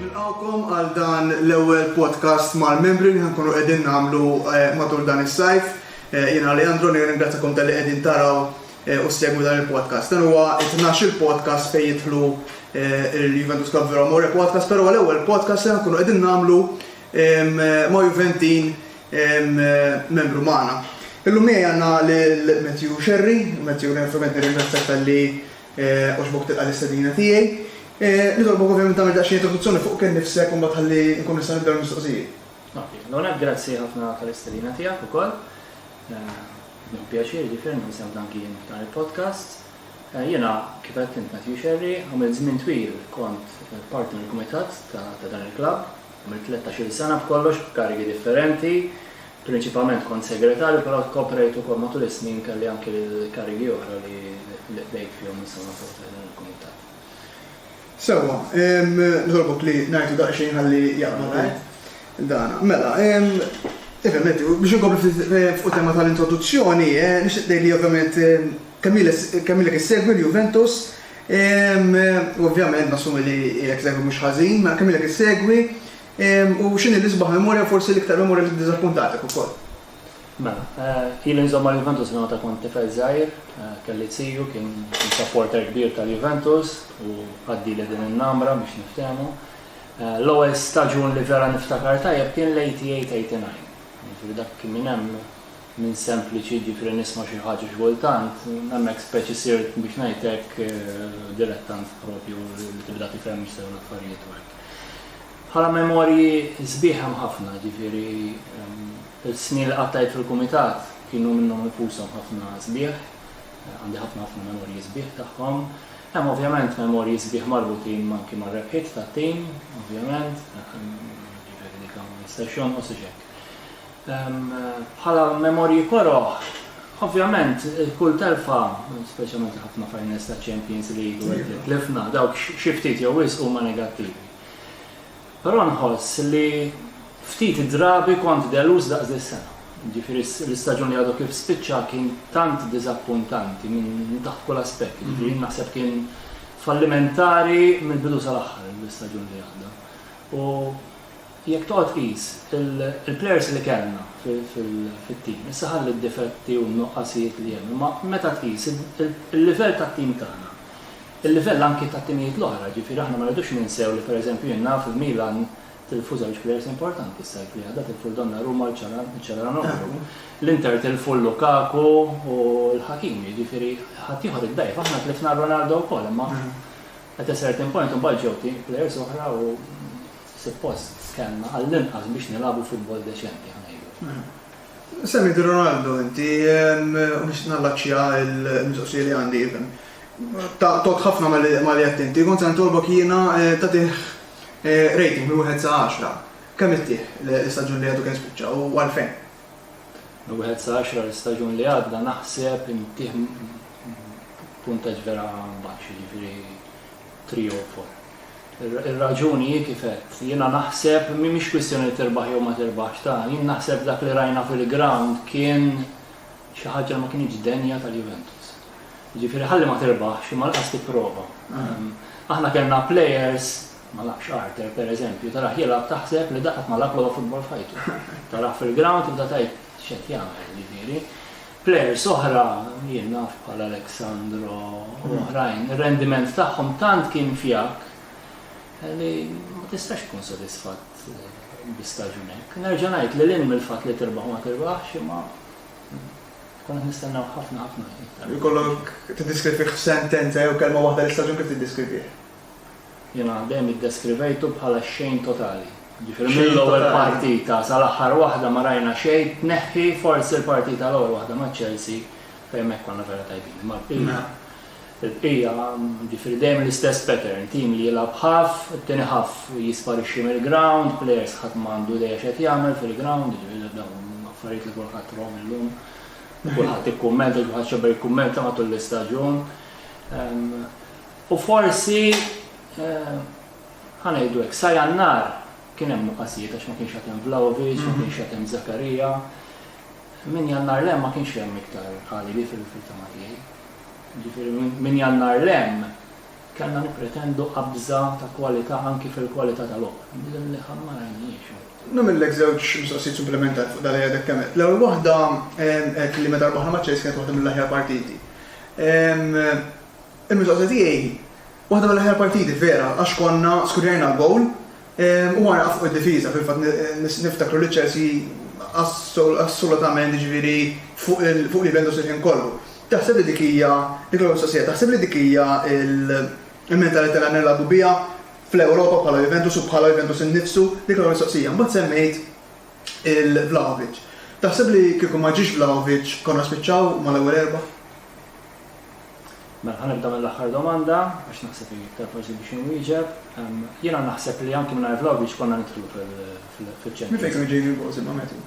Nilqgħukom għal dan l-ewwel podcast mal-membri li ħa nkunu qegħdin nagħmlu matul dan is-sajf. Jien Alejandro nirringrazzjakom talli qegħdin taraw u ssegwu dan il-podcast. Dan huwa t-tnax-il podcast fejn jidħlu l-Juventus Club Vero Amore podcast, però l-ewwel podcast li ħa nkunu qegħdin nagħmlu ma' Juventin membru magħna. Illum miegħi għandna lil Matthew Xerri, Matthew ovvjament nirringrazzjak talli Għoġbok tilqa' l-istedina tiegħi. Nitolbok ovvjament tagħmel daqsxejn introduzzjoni fuq kien nifsek u mbagħad ħalli nkun nista' nibda bil-mistoqsijiet. Okej, allura grazzi ħafna tal-istedina tiegħek ukoll. Hu pjaċir jiġifieri li nisimgħek anki jien f'dan il-podcast. Jiena kif għedt int Matthew Xerri, għamilt żmien twil kont parti mill-kumitat ta' dan il-klabb. Għamilt tlettax-il sena b'kollox b'karigi differenti. Prinċipalment kont segretarju però koprejt ukoll matul is-snin kelli anki l-karigi oħra li qdejt fihom insomma fi ħdan il-kumitat. Sewwa, nitolbok li ngħidu daqsxejn ħalli jaqbad dan. Mela, Ivemetti, biex inkomplu fuq tema tal-introduzzjoni, nixtieq tgħid li ovvjament kemm ilek issegwi l-Juventus, u ovvjament nassumi li ilek segwi mhux ħażin, mela kemm ilek issegwi, U x'inhi l-isbaħ memorja u forsi l-iktar memorja li ddiżappuntatek ukoll? Mela, ili nżomm ma' Juventus minn meta kont tifel żgħir, kelli ziju kien supporter kbir tal-Juventus u għaddili din in-namra biex niftehmu. L-ewwel staġun li vera niftakar tajjeb kien l-'eighty-eight, eighty-nine. Jiġifieri dak kien minn hemm minn sempliċi jiġifieri nisma' xi ħaġa xi kultant, hemmhekk speċi sirt biex ngħidlek dilettant propju li tibda tifhem x'seħħu l-affarijiet u hekk. Bħala memorji sbieħ hemm ħafna, jiġifieri l-snin li qattajt fil-Kumitat kienu minnhom infushom ħafna sbieħ, għandi ħafna ħafna memorji sbieħ tagħhom. Hemm ovvjament memorji sbieħ marbutin anki mar-rebħiet tat-tim, ovvjament, dak jiġifieri dik ma jistax jonqos u x'hekk. Bħala memorji koroh, ovvjament kull telfa, speċjalment ħafna finals ta' Champions League u hekk li tlifna, dawk xi ftit jew wisq huma negattivi. Però nħoss li ftit drabi kont deluż daqs dis-sena. Jiġifieri l-istaġun li għadu kif spiċċa kien tant diżappuntanti minn taħt kull aspett, jiġifieri naħseb kien fallimentari mill-bidu sal-aħħar l-istaġun li għadda. U Jekk toqgħod tqis il-plejers li kellna fit-tim, issa ħalli d-difetti u n-nuqqasijiet li hemm, imma meta tqis il-livell tat-tim tagħna, il-livell anki tat-timijiet l-oħra, jiġifieri aħna ma rridux ninsew li pereżempju jien naf li Milan tilfu żewġ plejers importanti s-sajf li għadda, tilfu lil Donnarumma u lil Calhanoglu, l-Inter tilfu lil Lukaku u lil Hakimi, jiġifieri ħaddieħor iddgħajjef, aħna tlifna lil Ronaldo wkoll imma at a certain point imbagħad ġew plejers oħra u. Suppost kellna għall-inqas biex nilagħbu futbol deċenti, ħa ngħidu. Semmejt Ronaldo inti, u nixtieq nallaċċja l-mistoqsija li għandi even. Ta' tot ħafna ma li qed inti, kont se nitolbok jiena tagħtih rating minn wieħed sa 10. Kemm ittih l-istaġun li għadu kemm spiċċa u għalfejn? Minn wieħed sa 10 l-istaġun li għadda naħseb intieh puntaġġ vera baxx, jiġifieri 3 jew 4. Ir-raġuni hi kif għedt. Jiena naħseb mhimiex kwistjoni li tirbaħ jew ma tirbaħx ta', jien naħseb dak li rajna fil-grawnd kien xi ħaġa li ma kinitx denja tal-Juventus. Jiġifieri ħalli ma tirbaħx imma laqas tipprova. Ehm, aħna kellna players ma nafx Arthur per eżempju, taraħ jilgħab taħseb li daħat ma lab l futbol fajtu. Taraħ fil-ground tibda tajt x'qed jagħmel, ġifieri. Plejers oħra, jien naf bħal Alexandro u oħrajn, ir-rendiment tagħhom tant kien fjak li ma tistax tkun sodisfatt bi staġun hekk. Nerġa' ngħid li lil mill-fatt li tirbaħ ma tirbaħx imma Konna nistennaw ħafna ħafna. Ikollok tiddiskrivih f'sentenza jew kelma waħda l-istaġun kif tiddiskrivih? Jiena dejjem iddeskrivejtu bħala x-xejn totali. Jiġifieri mill-ewwel partita sal-aħħar waħda ma rajna xejn, tneħħi forsi l-partita l-ewwel waħda ma' Chelsea fejn hemmhekk konna vera tajbin. Imma l-bqija, il-bqija, jiġifieri dejjem l-istess pattern, tim li jilgħab ħaff, it-tieni ħaff jisparixxi mill-ground, players ħadd ma għandu idea x'qed jagħmel fil-ground, jiġifieri dawn affarijiet li kulħadd rom illum. Kulħadd ikkummenta, kulħadd xebba jikkummenta matul l-istaġun. U forsi, ħa ngħidu hekk, sa Jannar kien hemm nuqqasijiet għax ma kienx għad hemm Vlahovic, ma kienx għad hemm Zakaria. Minn Jannar 'l hemm ma kienx hemm iktar Ghalili fil-fil-fehma tiegħi. Jiġifieri minn Jannar 'l hemm kellna nippretendu qabża ta' kwalità anki fil-kwalità ta' logħob. Din li ħadd ma rajniex. Nagħmillek żewġ mistoqsijiet supplimentari fuq dak li għadek kemm għedt. L-ewwel waħda, għedt li meta rbaħna ma' Chelsea kienet waħda mill-aħjar partiti. Il-mistoqsija tiegħi, waħda mill-aħjar partiti, vera, għax konna skurjajna l-gowl u għana fuq id-difiża, fil-fatt niftakru li Chelsea assolutament jiġifieri fuq livell daqs il-ħin kollu. Taħseb li dik hija, dik l-ewwel mistoqsija, taħseb li dik hija l-mentalità li għandna nilagħbu biha fl-Ewropa bħala Juventus u bħala Juventus innifsu? Dik l-ewwel mistoqsija. Imbagħad semmejt il-Vlahovic. Taħseb li kieku ma ġiex Vlahovic konna spiċċaw mal-ewwel erbgħa? Mela ħa nibda mill-aħħar domanda għax naħseb hi iktar faċli biex inwieġeb. Jiena naħseb li anki mingħajr l-għawdieġ konna nidħlu fiċ-Champions. Minn fejn kienu ġejjin il-gowls imma Matthew?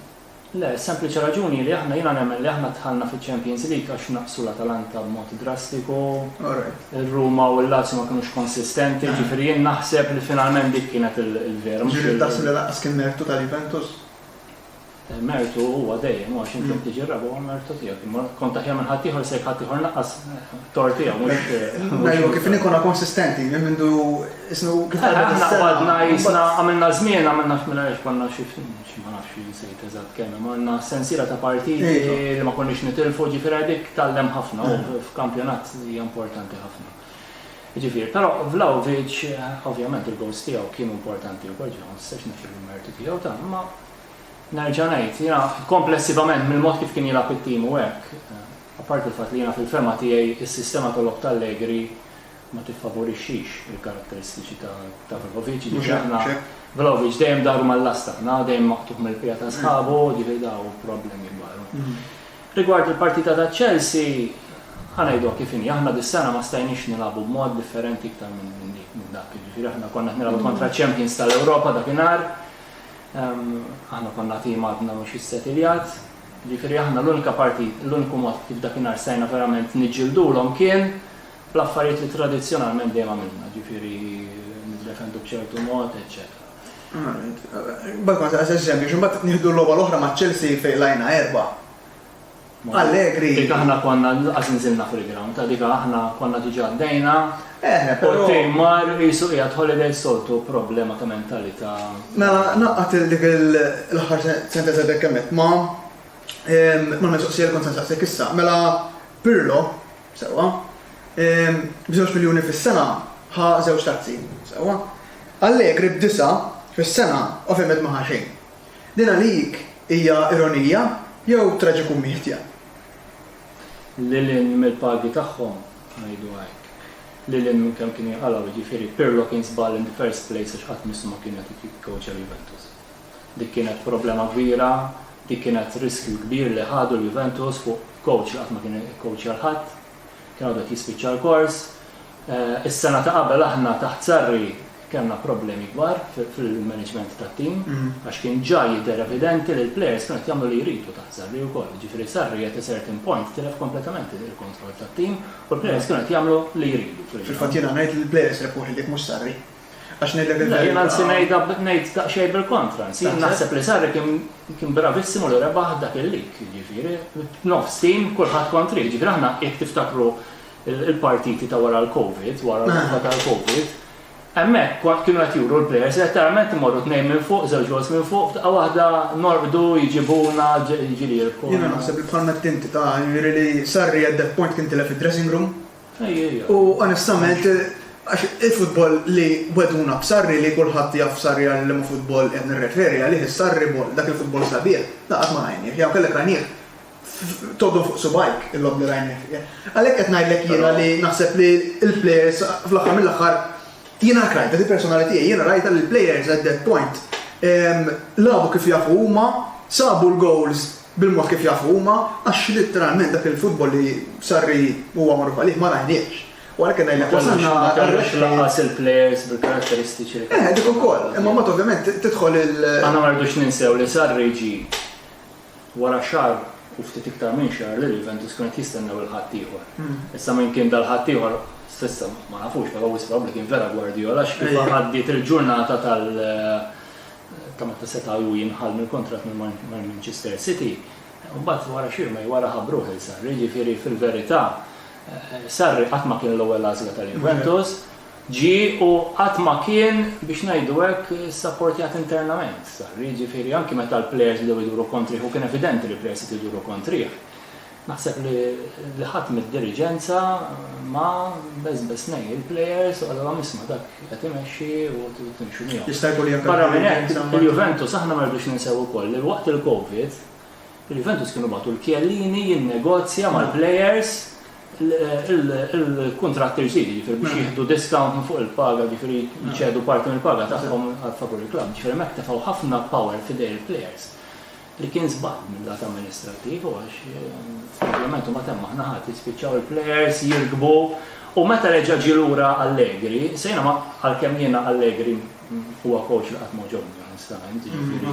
Le, is-sempliċi raġuni hi li aħna jiena nemmen li aħna dħalna fiċ-Champions League għax naqsu l-Atalanta b'mod drastiku. Alright. Ir-Ruma u l-Lazio ma kinux konsistenti, jiġifieri jien naħseb li finalment dik kienet il-vera. Jiġifieri taħseb li lanqas kien mertu tal-Juventus? Mertu huwa dejjem, u għax inti qed tiġi r-raba' huwa mertu tiegħek. Imma kont aħjar minn ħaddieħor jekk ħaddieħor naqqas t-tort tiegħu mhux. Ngħidu kif inhi konna konsistenti minn mindu isnu kif għadna. Aħna qbadna jisna għamilna żmien għamilna f'mila għax konna xi ma nafx insejt eżatt kemm imma għandna sensiela ta' partiti li ma konniex nitilfu ġifieri dik tgħallem ħafna u f'kampjonat hija importanti ħafna. Jiġifieri, però Vlahovic, ovvjament il-goals tiegħu kienu importanti wkoll, jiġifieri ma nistax nifri l-mertu tiegħu ta' imma nerġa' ngħid, jiena komplessivament mill-mod kif kien jilgħab it-tim u hekk, apparti l-fatt li jiena fil-fehma tiegħi s-sistema ta' logħob ta' Allegri ma tiffavorixxix il-karatteristiċi ta' Vlahovic, jiġifieri aħna Vlahovic dejjem daru mal-lasta, aħna dejjem maqtugħ mill-piegħa ta' sħabu, jiġifieri dawn problemi kbar. Rigward il-partita ta' Chelsea, ħa ngħiduha kif inhi, aħna dis-sena ma stajniex nilagħbu b'mod differenti iktar minn dak, jiġifieri aħna konna qed nilagħbu kontra ċ-champions tal-Ewropa dakinhar, aħna konna tim għadna mhux issetiljat, jiġifieri aħna l-unika partit, l-uniku mod kif dakinhar stajna verament niġġildulhom kien bl-affarijiet li tradizzjonalment dejjem għamilna, jiġifieri niddefendu b'ċertu mod, eċċetera. Bad ma taqas eżempju, x'imbagħad nieħdu l-logħba l-oħra ma' Chelsea fejn qlajna erba'. Allegri. Dik aħna konna laqas inżilna fil-ground, għalik aħna konna diġà għaddejna. Eh, U però. t-tim mar qisu qiegħed holiday soltu problema ta' mentalità. Mela naqgħad il dik l-aħħar sentenza li tkellmet ma' mal-mistoqsija li kont se nsaqsik issa. Mela Pirlo Sewwa. B'żewġ miljuni fis-sena ħa żewġ tazzi. Sewwa. Allegri b'disa' fis-sena ovvjament ma ħa xejn. Din għalik hija ironija jew traġikummiedja? Lil hinn mill-pagi tagħhom, ngħiduha hekk. Lil hinn minn kemm kien jinqalgħu, jiġifieri Pirlo kien żball in the first place għax qatt missu ma kien qed ikkoċja lil Juventus. Dik kienet problema kbira, dik kienet riskju kbir li ħadu l-Juventus fuq kowċ li qatt ma kien ikkowċja lil ħadd. Kien għadu qed jispiċċa l-kors. Is-sena ta' qabel aħna taħt Sarri kellna problemi kbar fil-maniġment tat-tim għax kien ġa jidher evidenti li l-plejers kienu qed jagħmlu li jridu taħt Sarri wkoll. Jiġifieri Sarri at a certain point tilef kompletament il-kontroll tat-tim u l-plejers kienu qed jagħmlu li jridu. Fil-fatt jiena ngħid li l-plejers rebħu ħiliet mhux Sarri. Għax ngħidlek il-verità. Le, jien anzi ngħidha ngħid daqsxejn bil-kontra, anzi jien naħseb li Sarri kien kien bravissimu li rebaħ dak il-lig, jiġifieri b'nofs tim kulħadd kontrih, jiġifieri aħna jekk tiftakru il-partiti ta' wara l-Covid, wara l-logħba tal-Covid, hemmhekk kont kienu qed juru l-players letteralment imorru tnejn minn fuq, żewġ goals minn fuq, f'daqqa waħda norqdu, jiġibuna, jiġifieri jirbħuna. Jiena naħseb li bħalma għedt inti ta' jiġifieri li Sarri at that point kien tilef id-dressing room, U onestament, għax il-futbol li weduna b'Sarri li kulħadd jaf Sarri għal liema futbol qed nirreferi għalih, is-Sarribol, dak il-futbol sabiħ, le qatt ma rajnieh, jew kellek rajnieh tgħoddhom fuq subgħajk il-logħob li rajna fih. Għalhekk qed ngħidlek jiena li naħseb li l-plejers fl-aħħar mill-aħħar jiena hekk rajtha, di persona tiegħi, jiena rajtha li l-plejers at that point lagħbu kif jafu huma, sabu l-gowls, bil-mod kif jafu huma, għax litteralment dak il-futbol li Sarri huwa magħruf għalih ma rajniehx. U għalhekk qed ngħidlek wasalna għar-reshma. Ma kellux lanqas il-plejers bil-karatteristiċi li kellhom. Eh, dik ukoll. Imma mbagħad ovvjament tidħol il-. Aħna ma rridux ninsew li Sarri ġie wara xahar u ftit iktar minn xahar li l-Juventus kienu qed jistennew il-ħaddieħor. Issa min kien dal-ħaddieħor s'issa ma nafux, però wisq probabbli kien vera Guardiola għax kif għaddiet il-ġurnata tal- ta' meta seta' hu jinħall mill-kuntratt ma' Manchester City, mbagħad wara xi jumej wara ħabbruh lil Sarri, jiġifieri fil-verità Sarri qatt ma kien l-ewwel għażla tal-Juventus, ġie u qatt ma kien, biex ngħidu hekk, issapportjat internament Sarri, jiġifieri anki meta l-plejers bdew iduru kontrih u kien evidenti li l-plejers qed iduru kontrih. Naħseb li li ħadd mid-diriġenza ma beżbeż ngħin il-plejers u qalilhom isma' dak qed imexxi u tridu timxu miegħu. Jista' jkun li anke Barra minn hekk, diriġenza ma- il-Juventus aħna ma rridux ninsew ukoll li waqt il-Covid, il-Juventus kienu bagħtu l-Chiellini jinnegozja mal-plejers il-kuntratt il-ġdid, jiġifieri biex jieħdu discount minn fuq il-paga, jiġifieri jċedu parti mill-paga tagħhom għal favur il-klabb. Jiġifieri hemmhekk tefgħu ħafna power f'idejn il-plejers. li kien żball minn lat amministrattiv u għax probabbilment huma temmu aħna ħadd jispiċċaw il-plejers jirkbu u meta reġa' ġie lura Allegri, sejna ma għalkemm jiena Allegri huwa coach li qatt ma ġobni onestament, ġifieri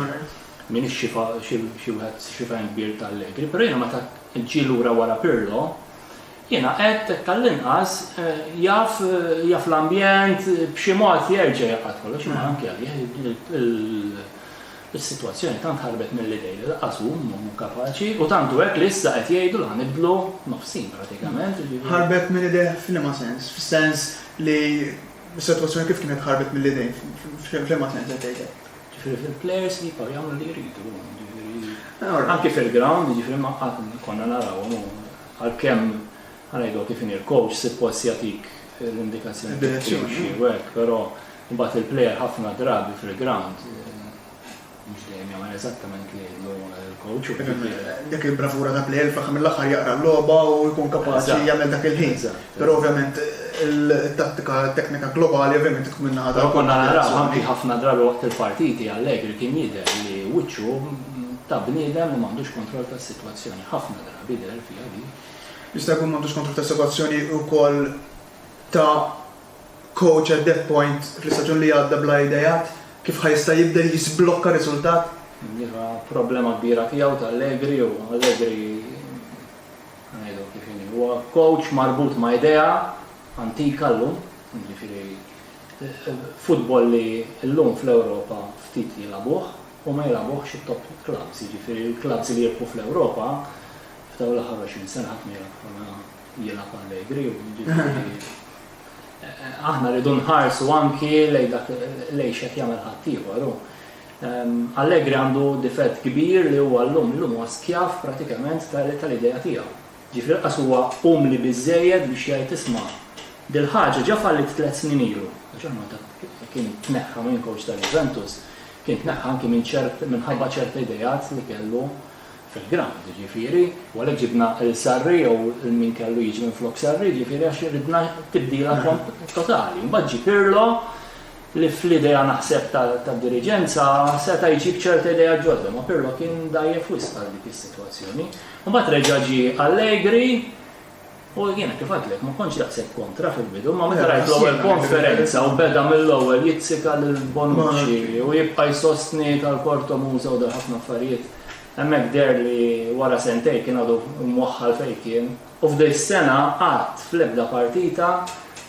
min ix-xifa xi wieħed xifajn kbir ta' Allegri, però jiena meta ġie lura wara Pirlo, jiena qed tal-inqas jaf jaf l-ambjent b'xi mod jerġa' jaqgħad kollox imma anke għalih Is-sitwazzjoni tant ħarbet mill-idejn li lanqas hu mhu mhu kapaċi, u tant hu hekk li issa qed jgħidu li ħa nibdlu nofsin pratikament, jiġifieri. Ħarbet minn idejh f'liema sens? Fis-sens li s-sitwazzjoni kif kienet ħarbet mill-idejn? F'liema sens qed tgħid hekk? Jiġifieri fil-plejers li jibqgħu jagħmlu li jridu huma, jiġifieri anki fil-ground, jiġifieri ma qatt konna narawhom u għalkemm Ħa ngħidlok kif inhi, l-coach suppost jagħtik l-indikazzjoni kif trid timxi u hekk, però mbagħad il-plejer ħafna drabi fil-ground mhux dejjem jagħmel eżattament li jgħidlu l-coach. Dik il-bravura ta' plejer fl-aħħar mill-aħħar jaqra l-logħba u jkun kapaċi jagħmel dak il-ħin. Però ovvjament il-tattika teknika globali ovvjament tkun minna ħadha. Konna naraw anki ħafna drabi waqt il-partiti Allegri kien jidher li wiċċu ta' bniedem li m'għandux kontroll tas-sitwazzjoni. Ħafna drabi jidher fiha li Jista' jkun m'għandux kontratt ta' assigurazzjoni wkoll ta' coach at that point fl-istaġun li għadda bla ideat kif ħa jista' jibdel jiżblokka riżultat? Iva, problema kbira tiegħu ta' Allegri u Allegri ngħidu kif inhi. Huwa coach marbut ma' idea antika llum, jiġifieri futbol li llum fl-Ewropa ftit jilagħbuh u ma jilagħbuhx it-top clubs, jiġifieri l-clubs li jirbħu fl-Ewropa F'dawn l-aħħar 20 sena ħadd ma jaf konna jilgħab allegri u aħna rridu nħarsu anki lejn dak lejn xed jagħmel ħaddieħor. Ehm, Allegri għandu difett kbir li huwa llum llum huwa skjav pratikament tal-idea tiegħu. Ġifri qas huwa umli biżejjed biex jgħid isma' dil-ħaġa ġa fallit tliet snin ilu. Kien tneħħa minn coach tal-Juventus, kien tneħħa anki minn ċert minħabba ċerti idejat li kellu fil-ground jiġifieri, u għalhekk ġibna lil Sarri jew lil min kellu jiġi minflok Sarri jiġifieri għax ridna tibdila totali. Mbagħad ġie Pirlo li fl-idea naħseb tad-diriġenza seta' jġib ċerta idea ġodda, ma Pirlo kien dajjef wisq għal dik is-sitwazzjoni. Mbagħad reġa' ġie Allegri U jiena kif għedtlek ma kontx daqshekk kontra fil-bidu, imma meta rajt l-ewwel konferenza u beda mill-ewwel jizzika lil Bonucci u jibqa' jsostni tal-kortomuża u dal ħafna affarijiet, hemmhekk deher li wara sentejn kien għadu mwaħħal fejn kien. U f'din is-sena qatt fl-ebda partita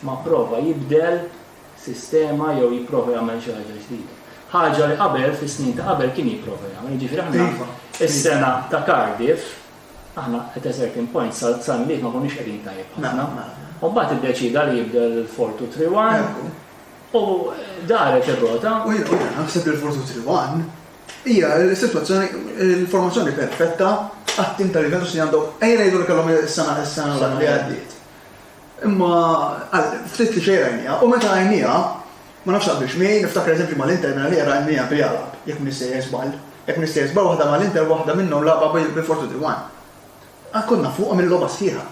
ma pprova jibdel sistema jew jipprova jagħmel xi ħaġa ġdida. Ħaġa li qabel fis-snin ta' qabel kien jipprova jagħmel. Jiġifieri aħna is-sena ta' Cardiff Aħna at a certain point sal-Milied ma konniex qegħdin tajjeb ħafna. U mbagħad iddeċieda li jibdel il-four two three one u daret ir-rota. U jiena naħseb li l-four two three one hija l-sitwazzjoni l-formazzjoni perfetta għat-tim tal-Juventus li għandhom ejja ngħidu li kellhom is-sena is-sena li għaddiet. Imma ftit li xejn rajniha, u meta rajniha, ma nafx taqbilx miegħi, niftakar eżempju mal-Inter mela li qed rajniha b'Jalab, jekk m'iniex sejjer żball. Jekk m'iniex sejjer żball waħda mal-Inter u waħda minnhom lagħba bil-Fortù di Wan. Konna fuqhom il-logħba sħiħa.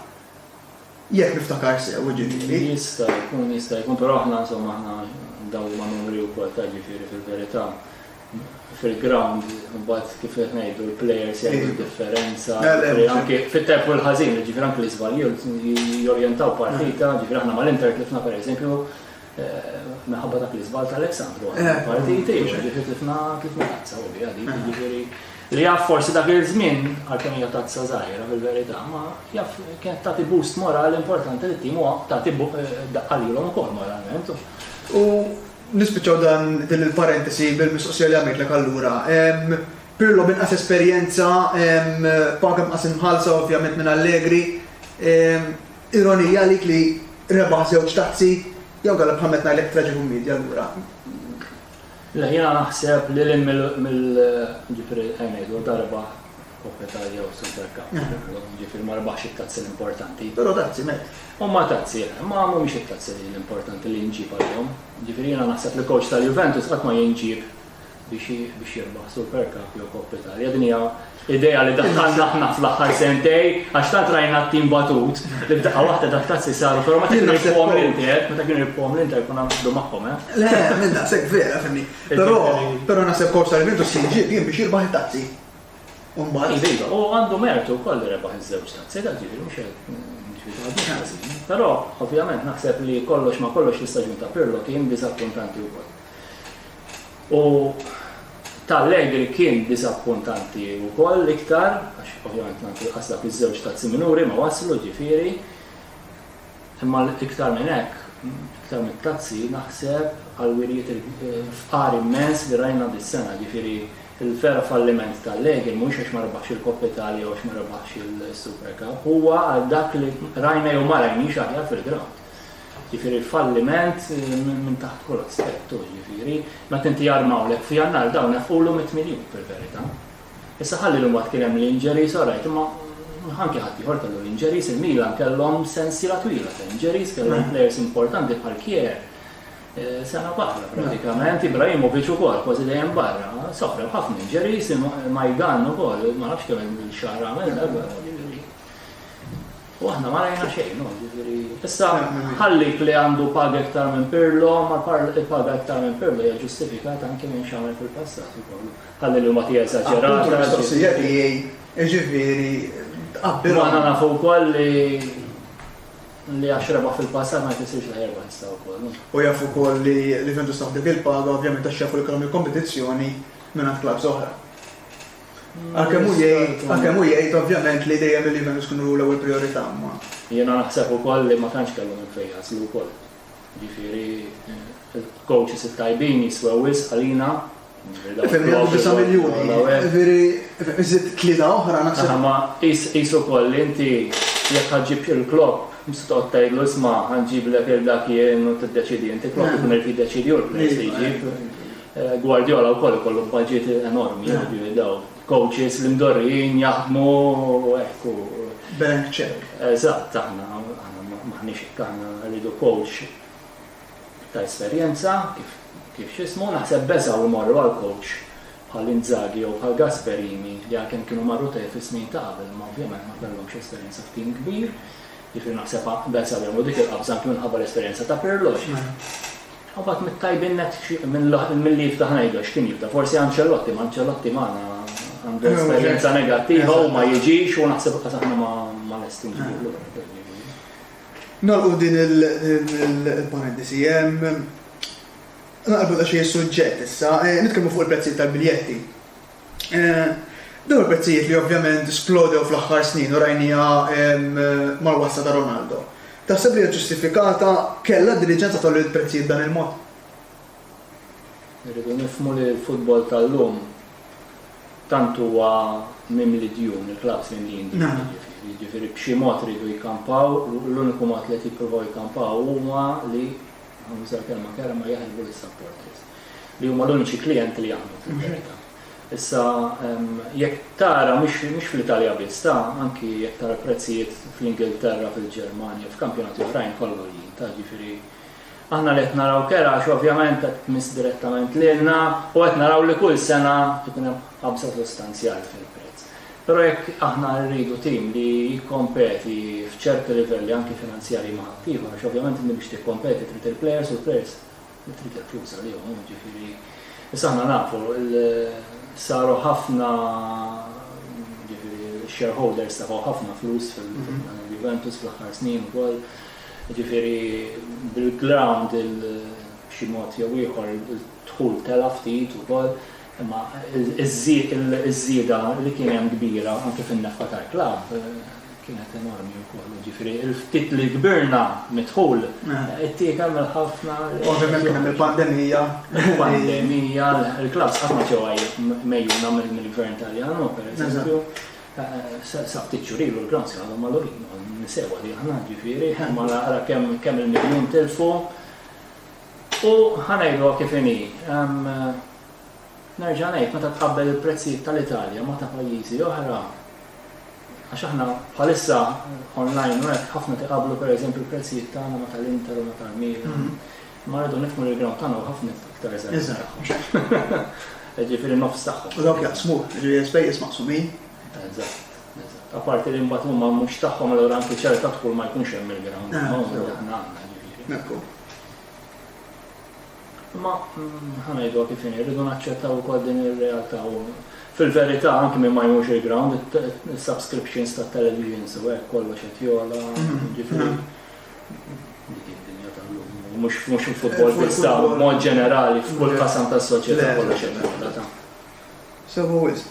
Jekk niftakar sew, jiġifieri. Jista' jkun, jista' jkun, però aħna insomma aħna ndawu ma' numri wkoll ta' jiġifieri fil-verità. fil-ground, mbagħad kif qed ngħidu l-players jagħmlu eh. differenza. Anke fit-tajb u l-ħażin, ġifier anke l-iżbalji jorjentaw partita, eh. ġifier aħna mal-Inter tlifna pereżempju eh, minħabba dak l-iżbal tal-Aleksandru. Partiti, ġifier tlifna tlifna tazza u bija dik, ġifieri li jaf forsi dak il-żmien għalkemm hija tazza żgħira fil-verità, ma jaf kienet tagħti boost morali importanti li t-tim huwa tagħti daqqa lilhom ukoll moralment. U Nispiċċaw dan din il-parentesi bil-mistoqsija li għamitlek allura. Pirlo b'inqas esperjenza, paga inqas imħallsa ovvjament minn Allegri. Ironija għalik li rebaħ żewġ tazzi, jew inkella bħal meta ngħidlek traġikummedja allura? Le, jiena naħseb lil hinn mill, jiġifieri ejja ngħidu darba Coppa Italia u Super Cup. Jiġifieri ma rebaħx it-tazzi l-importanti. Però tazzi met. Huma tazzi, eh. Imma mhumiex it-tazzi li l-importanti li nġib għalihom. Jiġifieri jiena naħseb li coach tal-Juventus qatt ma jinġieb biex jirbaħ Super Cup jew Coppa Italia. Din hija idea li daħħalna aħna fl-aħħar sentej għax tant rajna t-tim batut li b'daqqa waħda dak tazzi saru, però ma kienu jibqgħu l-inter, meta kienu jibqgħu l-inter kuna naqdu magħhom, eh. Le, minn daqshekk vera, fimni. Però però naħseb coach tal-Juventus jinġieb jien biex jirbaħ it-tazzi. U mbagħad. Iva, iva, u għandu mertu wkoll li rebaħ iż-żewġ tazzi, dak ġifieri mhux qed Però ovvjament naħseb li kollox ma kollox l-istaġun ta' Pirlo kien diżappuntanti wkoll. U tal-Allegri kien diżappuntanti wkoll l-iktar, għax ovvjament nagħti l-qasda fiż-żewġ tazzi minuri ma waslu ġifieri, Imma iktar minn hekk, iktar mit-tazzi, naħseb għall-wirjiet fqar immens li rajna dis-sena, jiġifieri l-vera falliment ta' Allegri mhuwiex għax ma rebaħx il-Coppa Italia u għax ma rebaħx il-Super Cup, huwa għal dak li rajna jew ma rajniex aħjar fil-grawnd. Jiġifieri falliment minn taħt kull aspett hu, jiġifieri meta inti jarmawlek f'Jannar dawn nefqulu mitt miljun fil-verità. Issa ħalli li mbagħad kien hemm l-injuries, all right, imma anke ħaddieħor kellu l-injuries, il-Milan kellhom sensiela twila ta' injuries, kellhom mm. players importanti bħal Kier. Eh, sena barra pratikament, mm. Ibrahimovic ukoll kważi dejjem barra, sofra ħafna injuries, Majdan ukoll, ma nafx kemm il-xahar għamel darba. U aħna ma rajna xejn, no, ġifieri. Issa mm. ħallik li għandu paga iktar minn Pirlo, ma il-paga iktar minn Pirlo hija ġustifikata anke minn xamel fil-passat ukoll. Ħalli l-Himotija Eżaġerata. Appuntu l-mistoqsija tiegħi, jiġifieri tqabbilhom. Aħna nafu wkoll li li għax rebaħ fil-passat ma jfissirx li ħerbaħ issa wkoll. U jafu wkoll li li vendu staħ dik il-paga ovvjament għax jafu li kellhom il-kompetizzjoni minn għand klabs oħra. Mm, għalkemm hu jgħid, għalkemm hu jgħid ovvjament li dejjem li vendu kienu l-ewwel priorità ma. Jiena naħseb ukoll li ma tantx kellhom il-fejjas li wkoll. Jiġifieri il-coaches it-tajbin jiswew wisq għalina. Ifhem, jgħaddu disa' miljuni. Jiġifieri, ifhem, iżid tlieta oħra naħseb. Imma qis ukoll li inti jekk ħa ġġib Jurgen Klopp, mhux se toqgħod tgħidlu isma' ħa nġiblek lil dak jien u tiddeċiedi inti, Klopp ikun irid jiddeċiedi hu l-players li jġib. Guardiola wkoll ikollu budget enormi, ovvju, daw. Coaches, l-imdorrijin jaħdmu hekk u. Blank check. Eżatt, aħna m'aħniex hekk, aħna rridu coach ta' esperjenza, kif x'ismu, naħseb beżgħu jmorru għal coach bħal Inzaghi jew bħal Gasperini li għalkemm kienu marru tajjeb fis-snin ta' qabel imma ovvjament ma kellhomx esperjenza f'tim kbir, jiġifieri naħseb beżgħu jagħmlu dik il-qabża anke minħabba l-esperjenza ta' Pirlo. U mbagħad mit-tajbin nett milli jiftaħ ngħidu għax kien jibda forsi Ancelotti, ma Ancelotti magħna għandu esperjenza negattiva u ma jiġix u naħseb qas aħna ma lesti nġibu lura. Nolqu din il-parentesi hemm naqbel xi suġġett issa, eh, nitkellmu fuq il-prezzi tal-biljetti. Dawn il-prezzijiet li ovvjament splodew fl-aħħar snin u rajniha mal-wasla ta' Ronaldo, taħseb li hija ġustifikata? Kellha d-diriġenza tgħolli l-prezzijiet b'dan il-mod? Irridu nifhmu li l-futbol tal-lum tant huwa mimli djun, il-klabbs mimlijin djun jiġifieri. Jiġifieri b'xi mod iridu jkampaw, l-uniku mod li qed jippruvaw jkampaw huma li, ħannuża l-kelma kerha, ma jaħrbu lis-supporters. li huma l-uniċi klijenti li għandhom fil-verità. Issa jekk tara mhux fl-Italja biss, ta' anki jekk tara prezzijiet fl-Ingilterra, fil-Ġermanja, f'kampjonati oħrajn kollha jien, ta' ġifieri aħna li qed naraw kera għax ovvjament qed tmiss direttament lilna u qed naraw li kull sena ikun hemm qabża sostanzjali fil-prezz. Però jekk aħna rridu tim li jikkompeti f'ċerti livelli anki finanzjarji ma' ħaddieħor, għax ovvjament inti biex tikkompeti trid il-plejers u l-plejers Trid il-flus għalihom, jiġifieri. Issa aħna nafu saru ħafna jiġifieri shareholders tefgħu ħafna flus fil-Juventus fl-aħħar snin ukoll. Jiġifieri bil-ground il-xi mod jew ieħor il-dħul tela' ftit ukoll. Imma ż-żieda li kien hemm kbira anke fin-nefqa tal-klabb kienet enormi wkoll, jiġifieri l-ftit li kbirna mid-dħul ittiekel mill-ħafna. Ovvjament kien hemm il-pandemija. Il-pandemija, il-klabbs qatt ma ġew mgħejjuna mill-Gvern Taljan, pereżempju. Sa ftit xhur ilu l-grounds kienu għadhom magħluqin, nisewha li aħna, jiġifieri, imma ara kemm il-miljun tilfu. U ħa ngħiduha kif inhi, nerġa' ngħid, meta tqabbel il-prezzijiet tal-Italja ma' ta' pajjiżi oħra, għax aħna bħalissa online u hekk ħafna tiqabblu pereżempju l-prezzijiet tagħna ma' tal-Inter u ma' tal-Milan, imma rridu nifhmu li l-ground tagħna hu ħafna iktar żgħir tagħhom. Jiġifieri nofs tagħhom. U dawk jaqsmu, jiġifieri l-ispejjeż maqsumin. Eżatt, eżatt. Apparti li mbagħad huma mhux tagħhom allura anke ċerta dħul ma jkunx hemm mill-ground, aħna għandna, jiġifieri. Mifhum. Imma, ħa ngħiduha kif inhi, rridu naċċettaw ukoll din ir-realtà u fil-verità anki min ma jmurx il-ground, is-subscriptions tat-televisions u hekk kollox qed jogħla, jiġifieri mhux il-futbol biss ta' mod ġenerali f'kull qasam tas-soċjetà kollox qed jogħla ta'. Sewa wisq.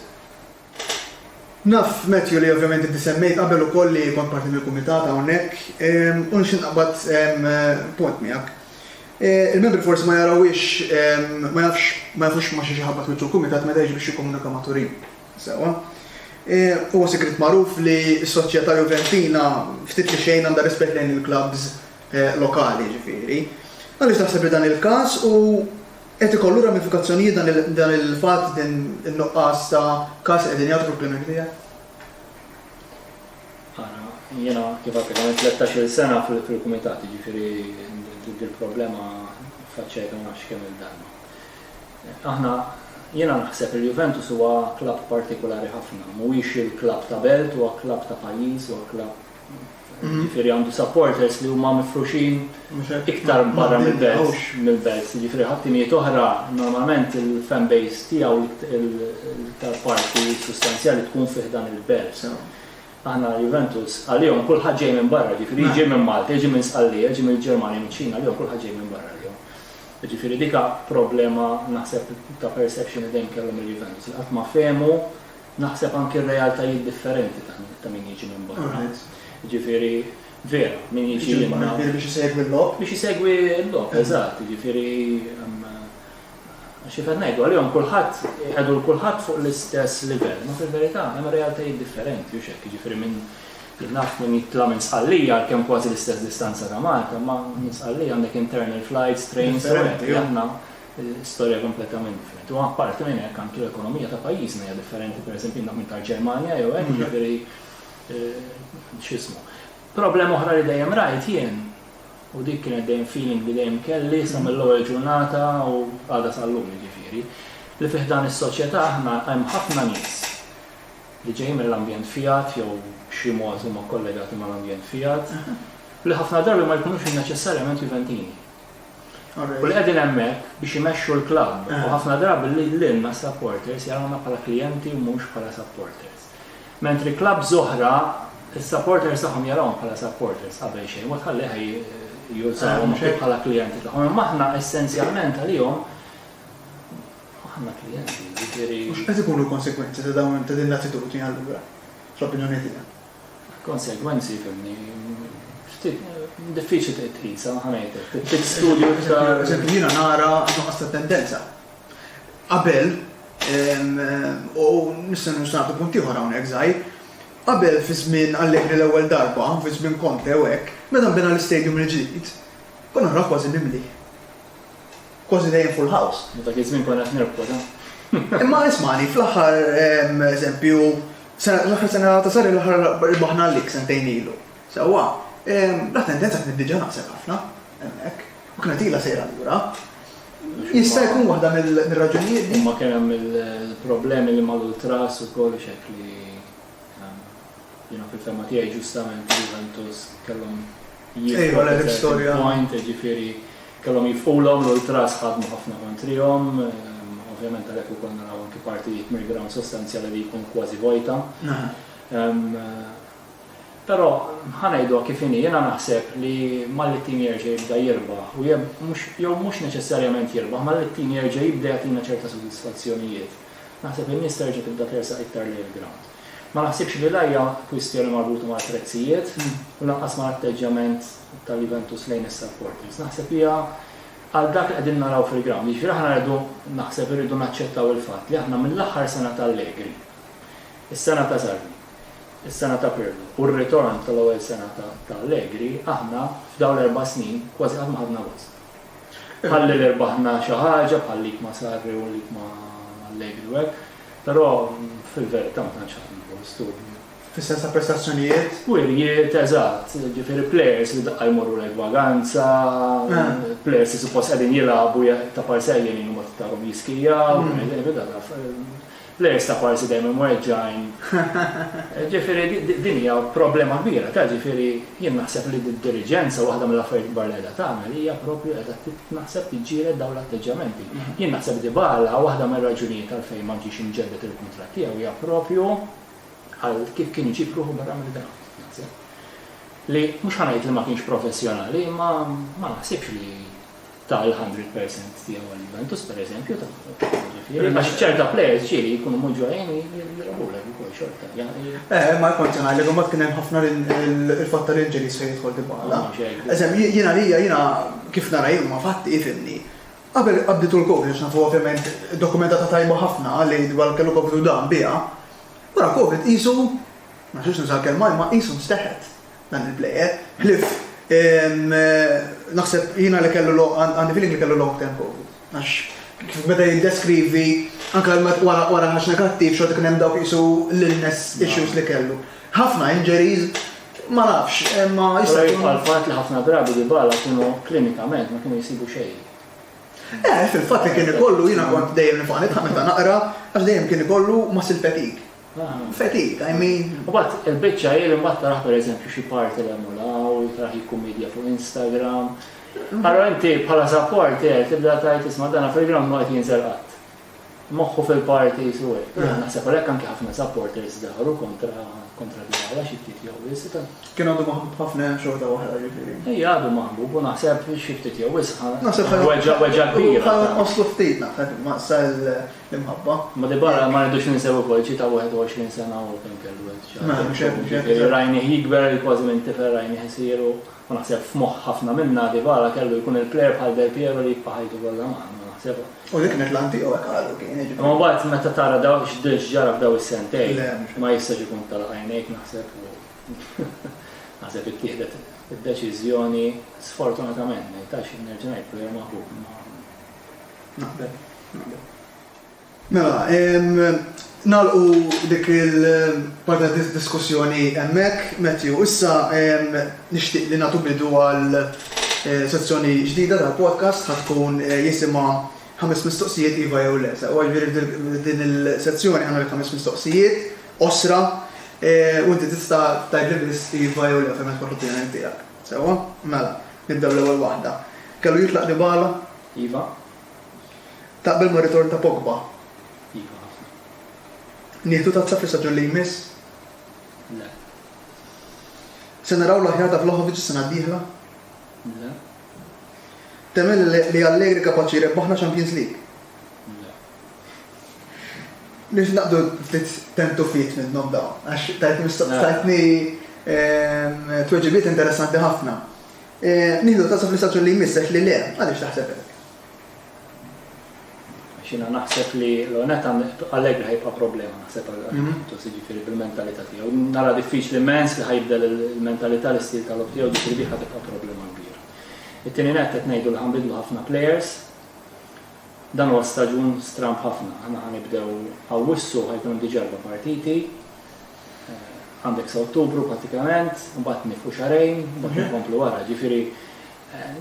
Naf, Matthew, li ovvjament inti semmejt qabel ukoll li kont parti mill-kumitat hawnhekk, u nixtieq naqbad punt miegħek. Il-membri forsi ma jarawhiex, ma jafx, ma jafux ma' xiex iħabbat wiċċu l-kumitat meta jiġi biex jikkomunika ma' Turin. Sewwa? Huwa sigriet magħruf li s-Soċjetà Juventina ftit li xejn għandha rispett lejn il-klabbs lokali, jiġifieri. Għaliex taħseb li dan il-każ hu Qed ikollu ramifikazzjonijiet dan il-fatt, din in-nuqqas ta' każ li qegħdin jagħtu fil-Premier League? Ara, jiena kif għadtlek għamilt tlettax-il sena fil-Kumitat, jiġifieri dil-problema ffaċċajtha ma nafx kemm-il darba. Aħna, jiena naħseb li l-Juventus huwa klabb partikulari ħafna, mhuwiex il-klabb ta' belt, huwa klabb ta' pajjiż, huwa klabb, jiġifieri għandu supporters li huma mifruxin iktar barra mill-belt, mill-belt, jiġifieri ħa timijiet oħra normalment il-fan base tiegħu l-iktar parti sustanzjali tkun fi ħdan il-belt. Aħna Juventus għalihom kulħadd ġej minn barra, jiġifieri jiġi minn Malta, jiġi minn Sqallija, jiġi mill-Ġermanja, miċ-Ċina, għalihom kulħadd ġej minn barra għalihom. Jiġifieri dik problema naħseb ta' perception li dejjem kellhom il-Juventus li qatt ma fehmu Naħseb anki r-realtajiet differenti ta' min jiġi minn barra. Jiġifieri, vera, min jiġi minn barra. Jiġifieri biex isegwi l-logħob? Biex isegwi l-logħob, eżatt. Jiġifieri, xi fed ngħidu, għalihom kulħadd, iqiegħdu lil kulħadd fuq l-istess livell. Ma fil-verità, hemm realtajiet differenti, hux hekk? Jiġifieri min, jien naf min jitla' minn Sqallija għalkemm kważi l-istess distanza ta' Malta, imma minn Sqallija għandek internal flights, trains, u hekk. Storja kompletament differenti. U apparti minn hekk anki l-ekonomija ta' pajjiżna hija differenti, pereżempju jien minn tal-Ġermanja jew hekk, jiġifieri x'ismu. Problema oħra li dejjem rajt jien u dik kienet dejjem feeling li dejjem kelli sa mill-ewwel ġurnata u għadha sal-lum jiġifieri, li fi ħdan is-soċjetà aħna hemm ħafna nies li ġejjin mill-ambjent Fiat jew b'xi mod huma kkollegati mal-ambjent Fiat, li ħafna drabi ma jkunux neċessarjament Juventini. U li qegħdin hemmhekk biex imexxu l-klabb u ħafna drabi lilna s-supporters jarawna bħala klijenti u mhux bħala supporters. Mentri klabbs oħra s-supporters tagħhom jarawhom bħala supporters qabel xejn, mod ħalli jużawhom anke bħala klijenti tagħhom. Imma aħna essenzjalment għalihom aħna klijenti, jiġifieri. Mhux qed ikunu l-konsegwenzi ta' dawn ta' din l-attitudni allura, fl-opinjoni tiegħek? Il-konsegwenzi fimni ftit diffiċli trid tqisha ħa ngħidlek. Trid studju iktar. Eżempju jiena nara nuqqas ta' tendenza. Qabel u nista' nistaqtu punt ieħor hawnhekk żgħir. Qabel fi żmien Allegri l-ewwel darba, fi żmien Conte u hekk, meta nbena l-istadium il-ġdid, konna naraw kważi mimli. Kważi dejjem full house. Dak iż-żmien konna qed nirbħu da. Imma ismani, fl-aħħar eżempju, l-aħħar sena ta' sari l-aħħar rbaħna l-lik sentejn ilu. Sewwa, la tendenza kienet diġà naqset ħafna hemmhekk. U kienet ilha sejra lura. Jista' jkun waħda mill-raġunijiet li. Ma kien hemm il-problemi li mal-ultras ukoll xek li jiena fil-fema tiegħi ġustament Juventus kellhom jieħu l-istorja. Point, ġifieri Kellhom jifqulhom l-ultras ħadmu ħafna kontrihom, ovvjament għalhekk ukoll naraw anki partijiet mill-ground sostanzjali li jkun kważi vojta. Però ħa ngħiduha kif inhi, jiena naħseb li malli t-tim jerġa' jibda jirbaħ u jew mhux neċessarjament jirbaħ, malli t-tim jerġa' jibda jagħtina ċerta sodisfazzjonijiet, naħseb in-nies terġa' tibda tersaq iktar lejn il-ground. Ma naħsibx li la hija kwistjoni marbuta mal-prezzijiet u lanqas mal-atteġġjament ta' Juventus lejn is-supporters. Naħseb hija għal dak li qegħdin naraw fil-ground. Jiġifieri aħna rridu naħseb irridu naċċettaw il-fatt li aħna mill-aħħar sena ta' Allegri, is-sena ta' Sarri, is-sena ta' Pirlo u r-ritorn tal-ewwel sena ta' Allegri, aħna f'dawn l-erba' snin kważi qatt ma ħadna gost. Bħalli li rbaħna xi ħaġa, bħal lik ma' Sarri u lik ma' Allegri u hekk, però fil-verità ma tantx ħadna gost u Fis-sens ta' prestazzjonijiet? Wirjiet, eżatt. Ġifieri plejers li daqqa jmorru lejn vaganza, plejers li suppost qegħdin jilagħbu ta' parsi għajjejn u mbagħad tarhom jiskijaw, plejers ta' parsi dejjem imweġġgħin. Ġifieri din hija problema kbira ta' ġifieri jien naħseb li d-diriġenza waħda mill-affarijiet kbar li qiegħda tagħmel hija proprju qiegħda naħseb tiġġieled dawn l-atteġġjamenti. Jien naħseb Dybala waħda mir-raġunijiet għalfejn ma ġiex imġedded il-kuntratt tiegħu hija proprju Għal kif kien iġib ruħu barra mill-ground. Naħseb li mhux ħa ngħid li ma kienx professjonali imma ma naħsibx li ta' l-100 percent tiegħu għal Juventus pereżempju ta' ġifieri għax ċerta players ġieli jkunu mhux ġojjin jirabulek ukoll xorta. Eh, ma jkontx ngħidlek imbagħad kien hemm ħafna il-fatt tal-injuries fejn jidħol dibala. Eżem jiena lija jiena kif nara jien ma fatti ifimni. Qabel il-qabdi tul Covid għax nafu ovvjament dokumentata tajba ħafna li dwar kellu Covid u dam biha. Wara Covid qisu, ma nixtieqx nuża l-kelma imma qisu nsteħet dan il-plejer. Ħlief naħseb jiena li kellu għandi feeling li kellu long term Covid. Għax kif beda jiddeskrivi anke wara ħaġ negattiv xorta kien hemm dawk qisu l-illness issues li kellu. Ħafna injuries Ma nafx, imma jista' jkun. Jibqa' l-fatt li ħafna drabi Dybala kienu klinikament ma kienu jsibu xejn. Eh, fil-fatt li kien ikollu jiena kont dejjem nifaq nidħaq meta naqra għax dejjem kien ikollu muscle fatigue. Ah. Fatigue, I mean. U bat il-biċċa jien imbagħad taraħ pereżempju xi parti li hemm u taraħ jikkummedja fuq Instagram. Allora inti bħala support tibda tgħid isma' dana fil-gram ma qed jinżel qatt. moħħu fil-parties u hekk. Però naħseb għalhekk anke ħafna supporters dawru kontra kontra Dybala xi ftit jew wisq. Kien għadu maħbub ħafna xorta waħda jiġifieri. Ejja għadu maħbub u naħseb xi ftit jew wisq. Naħseb weġġa weġġa kbira. Ħa oslu ftit naħseb ma sa l-imħabba. Ma Dybala ma rridux ninsew ukoll ġi ta' 21 sena u kemm kellu. Rajni jikber kważi minn tifel rajni ħsiru. U naħseb f'moħħ ħafna minna Dybala kellu jkun il-plejer bħal Del Piero li jibqa' ħajtu kollha magħna, ma naħsebha. U dik kienet l-għan tiegħu hekk qalu kien, jiġifieri. Imma mbagħad meta tara daw x'ġara f'daw is-sentejn, ma jistax ikun tagħlaq għajnejk naħseb u naħseb ittieħdet id-deċiżjoni sfortunatament, ma jistax nerġa' ngħid plejer maħbub imma naqbel, naqbel. Mela, nagħlqu dik il-parti ta' diskussjoni hemmhekk, Matthew. Issa nixtieq li nagħtu bidu għal sezzjoni ġdida tal-podcast ħa tkun jisimha ħames mistoqsijiet iva jew le. Sewa jiġifieri f'din il-sezzjoni ħa nagħmel ħames mistoqsijiet qosra u inti tista' tgħidli biss iva jew le fejn ma tkunx l-opinjoni tiegħek. Sewa? Mela, nibdew l-ewwel waħda. Kellu jitlaq Dybala? Iva. Taqbel mar-ritorn ta' Pogba? Iva ħafna. Nieħdu tazza fl-istaġun li jmiss? Le. Se naraw l-aħjar ta' Vlahovic is-sena d-dieħla? Le. Temmen li Allegri kapaċi jrebbaħna Champions League? Nix naqdu ftit tentufiet minnom dawn, għax tajtni mistoqstajtni ehm, tweġibiet interessanti ħafna. Nieħdu nota sa fl-istaġun li jmiss għax li le, għaliex taħseb hekk? Għax jiena naħseb li l-onet Allegri ħajbqa' problema naħseb għal-Juventus, mhm. jiġifieri bil-mentalità tiegħu. Nara diffiċli immens li ħajbdel il-mentalità l-istil tal-lob tiegħu ġifieri biħa tibqa' problema kbira. It-tieni net qed ngħidu li ħanbidlu ħafna players, Dan huwa staġun stramb ħafna, aħna ħanibdew Awwissu ħajkun diġà erba' partiti, għandek sa Ottubru prattikament, mbagħad nifqu xarejn, mbagħad nkomplu wara. Ġifieri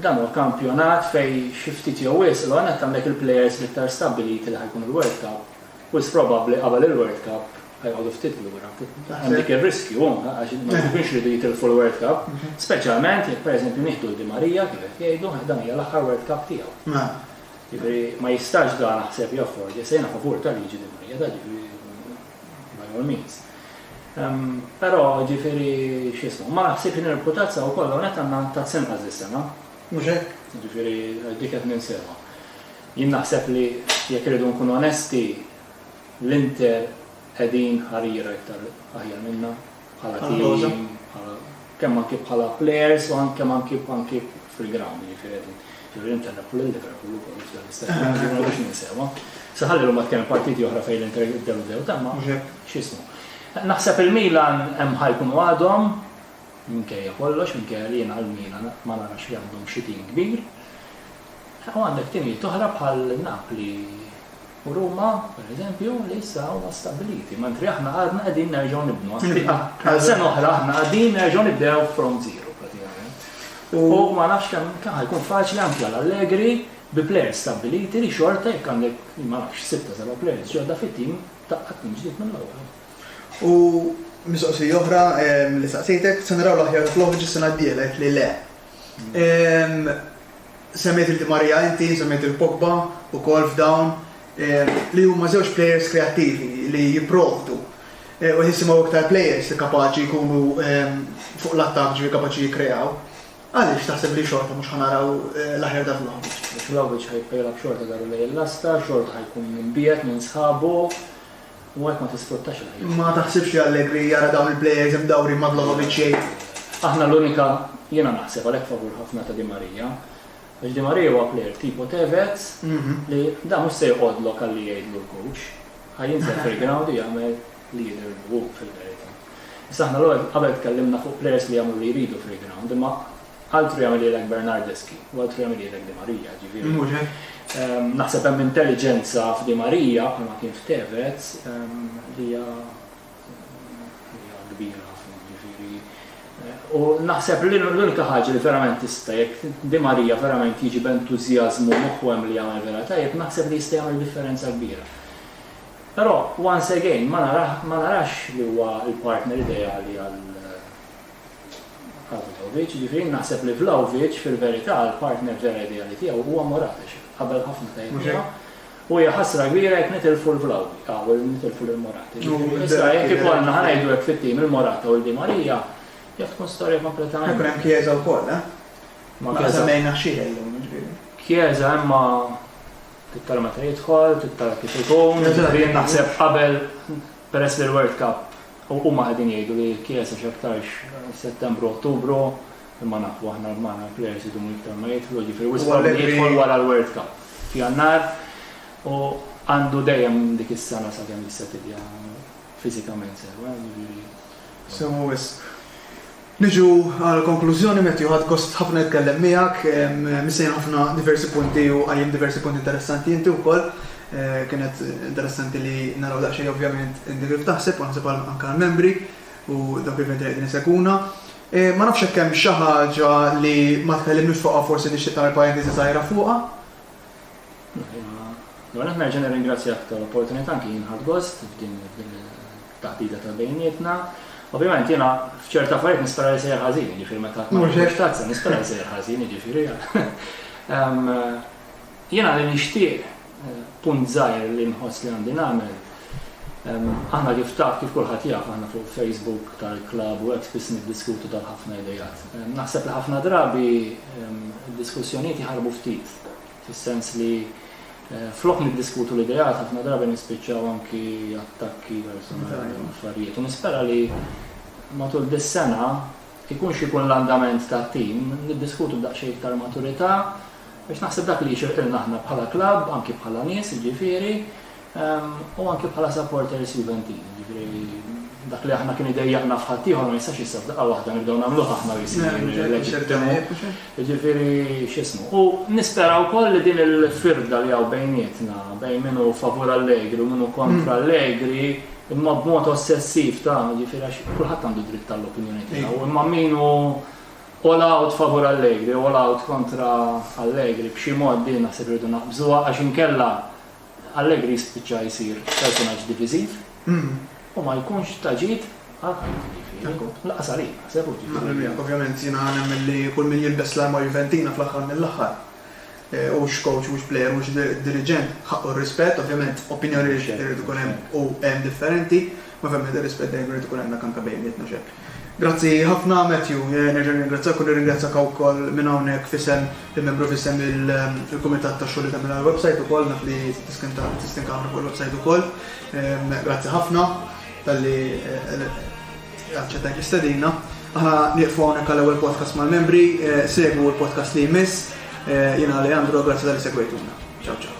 dan huwa kampjonat fej xi ftit jew wisq l għanet għandek il-plejers l-iktar stabbiliti li ħajkun il-World Cup. Wis probabbli qabel il-World Cup ħajqogħdu ftit lura. Hemm dik ir-riskju għax ma jkunx ridu jitilfu l-World Cup, speċjalment jekk pereżempju nieħdu l-Di Marija kif qed jgħidu dan hija l-aħħar World Cup tiegħu. Ġifieri ma jistax dan naħseb jafford, se jiena favur tal-liġi Di Marija da ġifieri by all means. Però, jiġifieri, x'jismu, ma naħsibx li nirbħu tazza u koll hawnhekk għandna Tazz inqas dis-sena, mhux hekk? Jiġifieri dik qed ninsewha. Jien naħseb li jekk irridu nkunu onesti, l-Inter qegħdin ħariera iktar aħjar minna. bħala team, kemm anki bħala players u kemm anki anki fil-ground, jiġifieri ġifieri inter Napoli u Liverpool ukoll f'dan l-istess ah, ma biex ninsewa. Saħalli l-huma tkellem partiti oħra fejn l-inter dew dew tamma x'ismu. Naħseb il-Milan hemm ħajkun għadhom minkejja kollox, minkejja li jiena l-Milan ma narax li għandhom xi tim kbir. U għandek timijiet oħra bħal Napli u Ruma, per eżempju, li issa huma stabbiliti, mentri aħna għadna qegħdin nerġgħu nibnu. Għal sena oħra aħna qegħdin nerġgħu nibdew from zero pratikament. U ma nafx kemm kemm ħajkun faċli anke għal Allegri bi players stabbiliti li xorta jekk għandek ma nafx sitta seba' players ġodda fit-tim taqqat minn ġdid minn l-ewwel. U mistoqsija oħra li saqsejtek, se naraw l-aħjar fl-oħġ is-sena d-dielet li le. Semmejt il-Di Maria inti, semmejt il-Pogba u kol f'dawn li huma żewġ players kreattivi li jipprovdu eh, u jisimaw iktar players li kapaċi jkunu fuq l-attak ġivi kapaċi jikreaw. Għaliex taħseb li xorta mhux ħanaraw eh, l-aħjar ta' Vlahovic? Biex Vlahovic ħajkolab xorta daru lejn l-lasta, xorta ħajkun minn biet, minn sħabu, u għalhekk ma tisfruttax il-ħiliet. Ma taħsibx li Allegri jara dawn il-plejers imdawrin ma' Vlahovic jgħid, Aħna l-unika, jiena naħseb għalhekk favur ħafna ta' Di Maria, għax Di Maria huwa plejer tipo Tevez li dan mhux se joqgħodlok għalli jgħidlu l-coach, ħa jinżel fil-ground u jagħmel li jidhirlu hu fil-verità. Issa aħna l-ewwel qabel tkellimna fuq plejers li jagħmlu li jridu fil-ground, imma Altru jagħmilhielek Bernardeschi u altru jagħmilhielek Di Maria, jiġifieri. Mhux hekk? Naħseb hemm intelliġenza f'Di Maria bħalma kien f'Tevez li hija kbira ħafna, jiġifieri. U naħseb li l-unika ħaġa li verament tista' jekk Di Maria verament jiġi b'entużjażmu moħħu hemm li jagħmel vera tajjeb, naħseb li jista' jagħmel differenza kbira. Però, once again, ma narax li huwa l-partner ideali għal Arnautovic, jiġifieri jien naħseb li Vlahovic fil-verità l-partner vera ideali tiegħu huwa Morates, qabel ħafna ta' jnuna, u hija ħasra kbira jekk nitilfu l-Vlahovic, nitilfu lil Morates. Issa jekk ikollna ħa ngħidu hekk fit-tim il-Morata u l-Di Maria, jaf tkun storja kompletament. Ikun hemm Chiesa wkoll, eh? Ma Chiesa mejna xi llum, ġifieri. Chiesa imma tittara meta jidħol, tittara kif ikun, naħseb qabel Peress li l-World Cup, u huma qegħdin jgħidu li l-Chiesa x'aktarx Settembru, Ottubru, imma nafu aħna magħna l-plejers idumu iktar ma jidħlu, ġifieri wisq probabbli jidħol wara l-World Cup f'Jannar u għandu dejjem dik is-sena sakemm jista' tibja fiżikament sew, ġifieri. Sew wisq. Niġu għal konklużjoni, Matthew ħadt gost ħafna jitkellem miegħek, missejjen ħafna diversi punti u qajjem diversi punti interessanti inti wkoll. Kienet interessanti li naraw daqsxejn ovvjament inti kif taħseb u naħseb għal anke għal membri u dawk l-eventi li qegħdin isegwuna. Ma nafx jekk hemm xi ħaġa li ma tkellimniex fuqha forsi tixtieq tagħmel parentesi żgħira fuqha? L-ewwel nett nerġa' nirringrazzjak tal-opportunità anki jien ħadt gost f'din taħdita ta' bejnietna. Ovvjament jiena f'ċerta affarijiet nispera li sejjer ħażin, jiġifieri meta qatt ma tazza nispera li sejjer ħażin, jiġifieri. Jiena li nixtieq eh, punt żgħir li nħoss li għandi nagħmel. Aħna kif taf kif kulħadd jaf aħna fuq Facebook tal-klab u hekk spiss niddiskutu tal ħafna idejat. Naħseb li ħafna drabi diskussjonijiet jħarbu ftit fis-sens li flok niddiskutu l-ideat ħafna drabi nispiċċaw anki attakki personali u affarijiet. U nispera li matul dis-sena ikun xikun l-andament ta' tim, niddiskutu daqsxejn iktar maturità, biex naħseb dak li jixirqilna aħna bħala klabb, anki bħala nies, jiġifieri, U anke bħala supporters Juventini, jiġifieri dak li aħna kien idejjaqna f'ħaddieħor ma jistax issa f'daqqa waħda nibdew nagħmluh aħna jisir. Jiġifieri x'ismu. U nispera wkoll li din il-firda li hawn bejnietna, bejn minnu favur Allegri u minnu kontra Allegri, imma b'mod ossessiv ta' ġifir għax kulħadd għandu dritt tal-opinjoni tiegħu, imma minu all out favur Allegri, all out kontra Allegri, b'xi mod din naħseb irridu naqbżuha għax inkella Allegri jispiċċa jsir personaġġ diviżiv u ma jkunx ta' ġid għal ħadd ġifieri. Lanqas għalik, naħseb hu ġifieri. Naqbel miegħek, ovvjament jiena nemmen li kull min jilbes l-arma Juventina fl-aħħar mill-aħħar, hux coach, hux plejer, hux diriġent, ħaqqu r-rispett, ovvjament opinjonijiet irid ikun hemm u hemm differenti, Ma fem nibda rispett dejjem irid ikun hemmhekk anke bejnietna x'hekk. Grazzi ħafna Matthew, nerġa' nirringrazzjak u nirringrazzjak hawn ukoll minn hawnhekk f'isem il-membru f'isem il-kumitat tax-xogħol li tagħmel għall-website ukoll naf li tistin kamra fuq il-website ukoll. Grazzi ħafna talli aċċettajt l-istedina. Aħna nieqfu hawnhekk għall-ewwel podcast mal-membri, segwu l-podcast li jmiss. Jiena Leandro, grazzi talli segwejtuna. Ciao ciao.